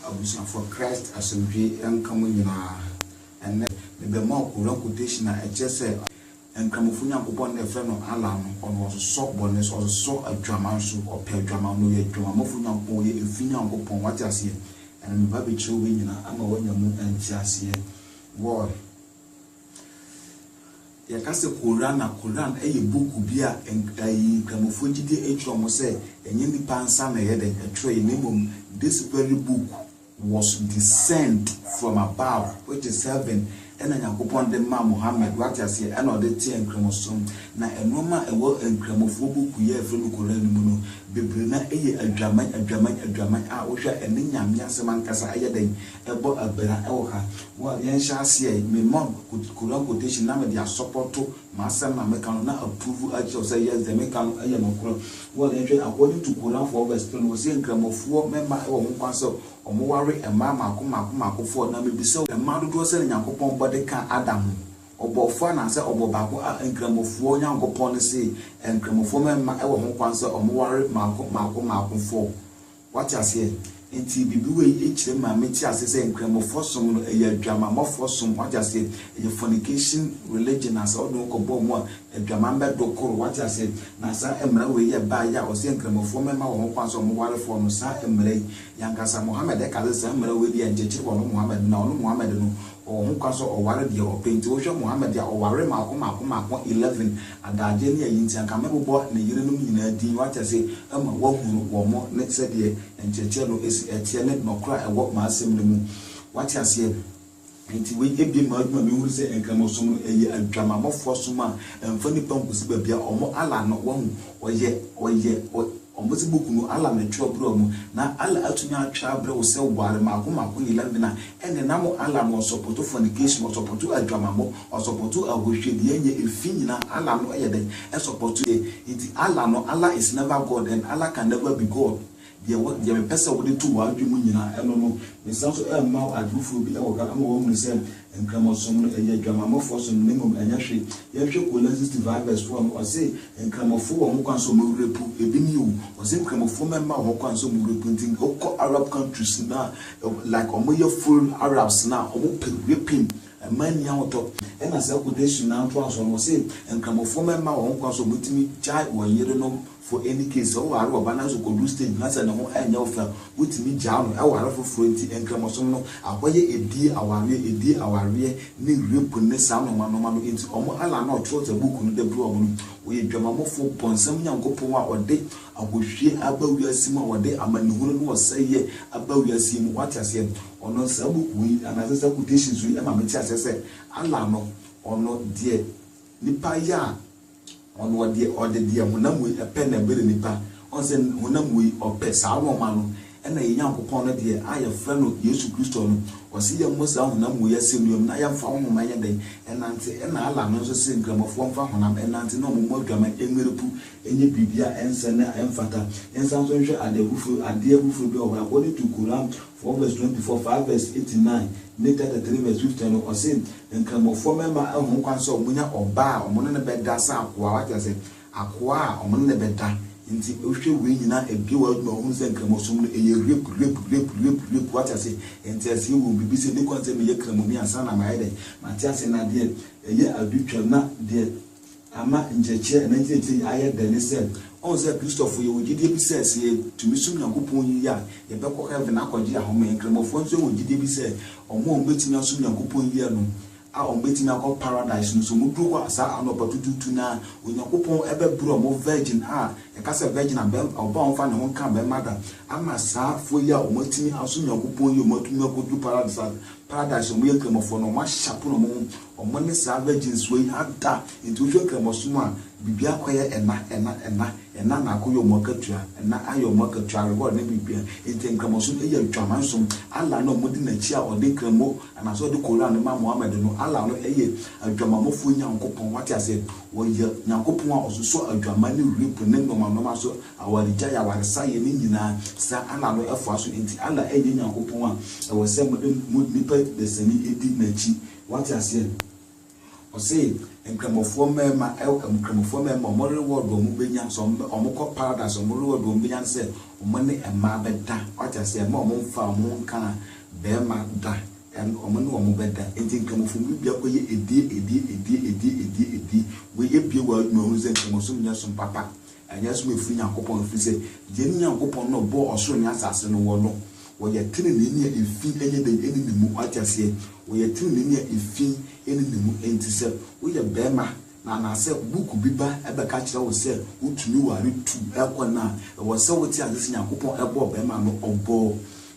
Abusuafo Christ asomdwee nka mo nyinaa. Ɛnnɛ, mebɛma wo Koran quotation a ɛkyerɛ sɛ Nkramofo Nyankopɔn na yɛfrɛ no Allah no, Ɔno Ɔsosɔ bɔne so, Ɔsosɔ adwaman so, Ɔpɛ adwaman no, Ɔyɛ adwamammɔfo Nyankopɔn, Ɔyɛ efi Nyankopɔn. Wate aseɛ? Ɛnnɛ meba abɛkyerɛ wo wei nyinaa ama woanya mu nteaseɛ. Wɔɔl. Yɛka sɛ Koran a, Koran yɛ buku bi a Nkramofoɔ gye di atwerɛ mu sɛ ɛnyɛ nnipa nsa na ɛyɛ dɛn ɛtwerɛeɛ na mmom this very book was descend from above which is heaven ɛna Nyankopɔn de maa Muhammad wate aseɛ ɛna ɔde teɛ Nkramosom na nnoɔma a ɛwɔ Nkramofoɔ buku yi a yɛfrɛ no Koran no mu no bebree no ara yɛ adwaman adwaman adwaman a wohwɛ a ɛne Nyame asɛm ankasa ɛyɛ dɛn ɛbɔ abira wɔ ha. Well, yɛnhyɛ aseɛ ɛ. Me mom could Quran quotation na mede asɔpɔto m'asɛm a meka no na approve akyerɛ wo sɛ yes, deɛ meka no yɛ nokorɛ. Well, yɛnhwɛ, according to Quran four verse three no, wɔse Nkramofoɔ mɛma wɔ ho kwan sɛ wɔware mmaa mmaako mmaako mmaako four. Na mebisa wo, mmaa dodoɔ sɛn na Nyankopɔn bɔ de kaa Adam ho? Ɔbɔɔ four anaasɛ ɔbɔɔ baako? A Nkramofoɔ Nyankopɔn no see Nkramofoɔ mɛma wɔ ho kwan sɛ wɔware mmaako mmaako mmaako four. Wate aseɛ? Nti biribi wei yi kyerɛ maa me te aseɛ sɛ Nkramofɔ som no ɛyɛ adwamammɔfoɔ som, wate aseɛ? Ɛyɛ fornication religion a sɛ wode wo kɔ bɔ ɔmo a adwaman bɛ do koro, wate aseɛ? Na saa mmara wei yɛ baa yɛ a ɔsɛ Nkramofɔ mmɛma wɔn ho kwan sɛ ɔmo ware foɔ no, saa mmara yi. Yankasa Mohammed ɛka sɛ saa mmara wei deɛ nkyekyere wɔ no Mohammed na ɔno Mohammed no ɔwɔ ho kwan sɛ ɔware deɛ ɔpɛ, nti wo hwɛ Mohammed a ɔwaree maako maako maako eleven, Adagyeɛ ne ayi nti anka mɛbobɔ ne yerenom nyinaa din watɛse ma wɔahunu wɔn ne sɛdeɛ nkyerɛkyerɛ no si teɛ ne nɔkorɛ a ɛwɔ m'asɛm no mu. Wate aseɛ? Enti wei abue m'adwene ma mehunu sɛ Nkramosom no ɛyɛ adwamammɔfoɔ som a ɛmfa nnipa nkɔsi baabi a wɔn Allah no wahu ɔyɛ, ɔyɛ, ɔyɛ. Wɔdze buukuu no Allah ne twerɛ berɛɛ mu, na Allah atumi atwerɛ abrɛ wo sɛ ware mako mako nye lambina, ɛnde na mo Allah no ɔsɔpɔtu fornication, ɔsɔpɔtu adwamammɔ, ɔsɔpɔtu ahohwiadeɛ nye efi nyinaa, Allah no yɛ dɛn? Ɛsɔpɔtuɛ. Enti Allah no, Allah is never God and Allah can never be God. Deɛ wɔ, deɛ mepɛ sɛ wode to w'adwene mu nyinaa, ɛno no, mesan nso ɛrema wo adwene foforɔ bi wɔ hɔ ama woahunu sɛ Nkramosom no ɛyɛ adwamammɔfoɔ som na mmom ɛnyɛ hwe. Yɛnhwɛ Kolan 6 5 vs 4 no, ɔse, Nkramofoɔ wɔ ho kwan sɛ wɔn werɛ po, ebi nie o, ɔse nkramofoɔ mɛmma wɔn kwan sɛ wɔn werɛ po, nti wokɔ Arab countries no a, like wɔn yɛ full Arabs no a, wɔn pɛ raping, ɛmma nni ahotɔ. Ɛna saa quotation no ara ntoa so no, ɔse, Nkramofoɔ mɛmma wɔn kwan sɛ wɔtumi gyae wɔn yerenom, For any case, sɛ woware ɔba nanso okodu stage bi na sɛ ne ho ɛnyɛ wo fɛ a, wotumi gyaa no ware foforɔ. Enti Nkramosom no, abɔyɛ, edie, awareɛ, edie, awareɛ, ne rape ne saa nnoɔma nnoɔma no nti wɔn Allah no a ɔtwerɛɛ saa book no de brɛɛ wɔn no, ɔyɛ dwamammɔfoɔ, bɔnsam Nyankopɔn a ɔde ahohwie aba wiase mu a ɔde amanehunu ne ɔsɛeɛ aba wiase yi mu. Woate aseɛ? Ɔno saa book wei yi anaasɛ saa quotations wei ma mete aseɛ sɛ Allah no, ɔno deɛ nipa yɛ a, Ɔno ɔdeɛ ɔde deɛ honam wei pɛ na ɛbrɛ nnipa. Ɔhu sɛ honam wei ɔpɛ saa nnoɔma no, ɛna yɛn Nyankopɔn no deɛ a yɛfrɛ no Yesu Kristo no, ɔse yɛmmɔ saa honam wei asɛnnua mu na yɛmfa honhom ɛnyɛ dɛn? Ɛnante. Ɛna Allah no nso se Nkramofoɔ mfa honam nnante na wɔmmɔ adwaman mmere pu nyɛ biribi a ɛnsɛ ne a ɛmfata. Yɛnsan nso nhwɛ adeɛ foforɔ adeɛ foforɔ bi a ɔwɔ hɔ, according to Qur'an four verse twenty four, five verse eighty nine, ne chapter three verse fifteen no, ɔse, Nkramofoɔ mmarima ahu ho kwan sɛ wɔnya ɔbaa a wɔne no bɛda sɛ akoa, wate aseɛ, akoa a wɔne no bɛda. Nti wohwɛ wei nyinaa ɛbue w'adwene ma wohunu sɛ Nkramosom no ɛyɛ rape, rape, rape, rape, rape, wate aseɛ. Nti ɛsɛ yɛwɔ biribi sɛ ɛnni kwan sɛ meyɛ Kramoni ansa na mayɛ dɛn? Mate aseɛ, na deɛ ɛyɛ adutwam na deɛ Ama nkyerɛkyerɛ anaa nkyerɛkyerɛ yi ayɛ dɛ ne sɛ, ɔhu sɛ Kristofo yɛwɔ gyidie bi sɛ sɛ yɛtumi som Nyankopɔn yiye a, yɛbɛkɔ heaven akɔgye ahome. Nkramofo nso wɔ gyidie bi sɛ wɔn a wɔbɛtumi asom Nyankopɔn yiye no, a wɔbɛtumi akɔ Paradise no, sɛ wɔduru hɔ a saa anɔpa tutuutu no ara, Onyankopɔn bɛbrɛ wɔn virgin a yɛka sɛ virgin a ɔbaa a ɔmfa ne ho nka barima da, ama saafoɔ yi a wɔatumi asom Nyankopɔn yiye a wɔatumi akɔduru Paradise a Paradise a wɔyɛ nkramofo no, wɔahyɛ apono no, wɔn ho. Wɔn ne saa virginsoɔ yi ada nti wohwɛ Nkramosom a biribiara akɔyɛ ɛna ɛna ɛna ɛna na akɔyɛ wɔn akatua ɛna ayɛ wɔn akatua reward ne biribiara nti Nkramosom yɛ adwamansom Allah no a wɔdi n'akyi a ɔde Nkramo anaasɛ ɔde Koran no ma Mohammed no Allah no yɛ adwamammɔfoɔ Nyankopɔn wate aseɛ ɔyɛ Nyankopɔn a ɔsosɔ adwaman ne rape ne nnoɔma nnoɔma so awaregyaeɛ awaresayɛ ne nyinaa saa Allah no ɛfoa so nti Allah nyɛ Nyankopɔn a ɛwɔ sɛ mode mo nipa dasani di n'akyi Wate aseɛ? Ɔse Nkramofoɔ mmarima, ɛwɔ, Nkramofoɔ mmarima, wɔn reward a wɔbɛnya, sɛ wɔn, wɔkɔ Paradise, wɔn reward a wɔbɛnya ne sɛ, wɔn ne mmaa bɛda. Wate aseɛ? Mma wɔn mfa wɔn ho nka barima da. Ɛn, wɔn ne wɔn bɛda. Enti Nkramofoɔ mu bi akɔyɛ adie, adie, adie, adie, adie, adie. Wei abue w'adwene, wahunu sɛ Nkramosom nyɛ som papa. Ɛnyɛ sɛ wɔafiri Nyankopɔn, ɛfiri sɛ Yɛn Nyankopɔn no a ɔbɔɔ ɔsoro ne asase no, wɔ no, wɔyɛ teneneeni a efi nyɛ den nni ne mu. Wate aseɛ? Wɔyɛ teneneeni a efi nni ne mu. Enti sɛ woyɛ barima, na anaasɛ book bi ba bɛka kyerɛ wo sɛ wotumi ware tu kɔ nna a, ɛwɔ sɛ wote aseɛ sɛ Nyankopɔn bɔɔ barima no, ɔbɔɔ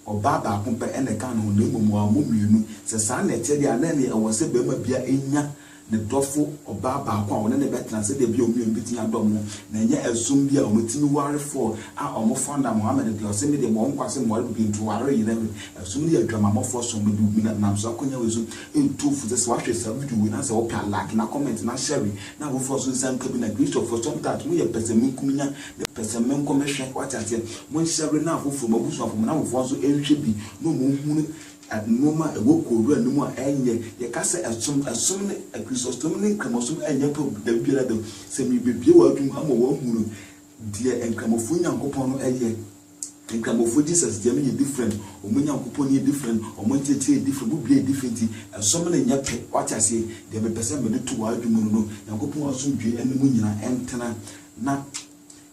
ɔbaa baako pɛ na ɛkaa ne ho, na mmom wammɔ mmienu. Sɛ saa na ɛte deɛ a, na ɛneɛ ɛwɔ sɛ barima biara nya ne dɔfo ɔbaa baako a wɔne no bɛtena sɛdeɛ ɛbɛyɛ a wɔn mmienu bɛtumi adɔ wɔn ho, na ɛnyɛ ɛsom bi a wɔtumi ware fɔ a wɔfa nna. Mohammed deɛ, ɔse, Medeɛ mewɔ nkwa ase meware bio nti ware yera me. Ɛsom no yɛ adwamammɔfoɔ som, na ɛde wumina nam saa akwannya wei so. Ɛntu fo sɛ, sɛ woahwɛ saa video wei na sɛ wopɛ a, like na comment na share na afoforo nso nsa nka bi. Na Christianfoɔ, sometimes moyɛ pɛsɛmenkominya ne pɛsɛmenkɔmehwɛ, woate aseɛ? Monhyɛre na afoforo, mo abusuafoɔ, mo nnamfofoɔ nso nhwɛ bi na wɔnhunu. Nnoɔma a ɛwɔ kowura no mu a ɛnyɛ, yɛka sɛ ɛsom, ɛsom ne Krisosom ne Nkramosom ɛnyɛ pɛ da biara da. Sɛ merebɛbue w'adwene mu ama w'ahunu deɛ Nkramofoɔ Nyankopɔn no ɛyɛ, Nkramofoɔ Jesus deɛ no yɛ different, wɔn Nyankopɔn no yɛ different, wɔn nteɛteɛ yɛ different, wɔn biribiara yɛ different nti ɛsom no nyɛ pɛ, wate aseɛ? Deɛ mepɛ sɛ mede to w'adwene mu no no, Nyankopɔn asomdwoeɛ ne mo nyinaa ɛntena na.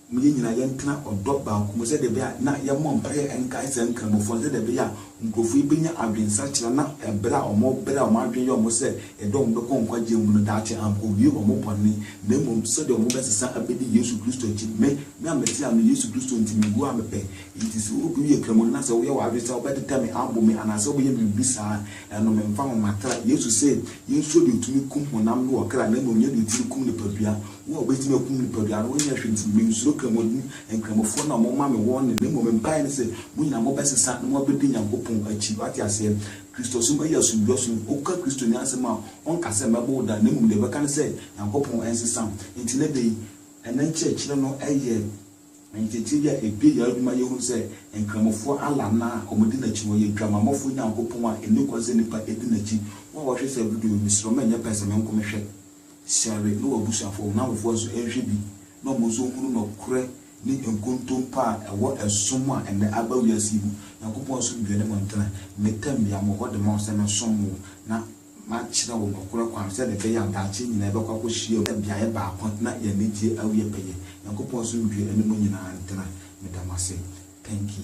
mu yɛn nyinaa yɛntena ɔdɔ baako mu sɛdeɛ ɛbɛyɛ a na yɛmmɔ mpaeɛ nkae saa nkramofo no sɛdeɛ ɛbɛyɛ a nkurɔfoɔ yi bɛnya adwensakyera na ɛberɛ a wɔbrɛ a wɔn adwene yɛ wɔn sɛ yɛde wɔn bɛkɔ nkwagyeɛ mu no daakye ankɔwie wɔn bɔne na mmom sɛdeɛ wɔbɛsesa abɛdi Yesu Kristo akyi. Me, me a mete ha no, Yesu Kristo nti mewuo a mepɛ. Enti sɛ obi yɛ kramoni na sɛ woyɛ w'adwene sɛ wobɛtetɛ me abɔ me anaasɛ wobɛyɛ me biribi saa a, ɛno memfa ho. Matra. Yesu se yɛnsuro deɛ ɔtumi kum honam ne ɔkra na mmom nyɛ deɛ ɔtumi kum nipadua. Wɔn a wɔbɛtumi akum nnipa biara no, wɔnyɛ hwee nti, mensuro Kramoni Nkramofoɔ no a wɔma me wɔn nnɛ, na mmom me mpaeɛ ne sɛ, mo nyinaa mobɛsesa na moabɛdi Nyankopɔn akyi. Woate aseɛ? Kristosom ayi asomdwoeɛ som. Woka Kristoni asɛm a, ɔnka sɛ, Mɛbɔ wo da, na mmom deɛ ɔbɛka ne sɛ, Nyankopɔn nsesa wo. Enti nnɛ da yi, ɛnnɛ nkyerɛkyerɛ no yɛ nkyerɛkyerɛ bi a ɛbue yɛn adwene ma yɛhunu sɛ Nkramofoɔ Allah no a wɔdi n'akyi no, ɔyɛ Dwamammɔfoɔ Nyankopɔn a ɛnni kwan sɛ nnipa di n'akyi. Wo a woahwɛ saa video yi, mesrɛ wo ma ɛnyɛ pɛ sɛ menko mehwɛ. Sɔre na w'abusuafo, wo nnamfofoɔ nso nhwɛ bi na wɔn nso nhunu nɔkorɛ ne nkontompo a ɛwɔ ɛsom a ɛnnɛ aba wiase yi mu. Nyankopɔn asomdwoeɛ ne mo ntena. Me tɛnbea, me wɔ hɔ de ma wo sɛ mɛsom mo na makyerɛ wo nɔkorɛ kwan sɛdeɛ ɛbɛyɛ a daakye yɛn nyinaa yɛbɛkɔ akɔhyiam wɔ beaeɛ baako na yɛn anigyeɛ awie pɛyɛ. Nyankopɔn asomdwoeɛ ne mo nyinaa ntena. Meda mo ase. Thank you.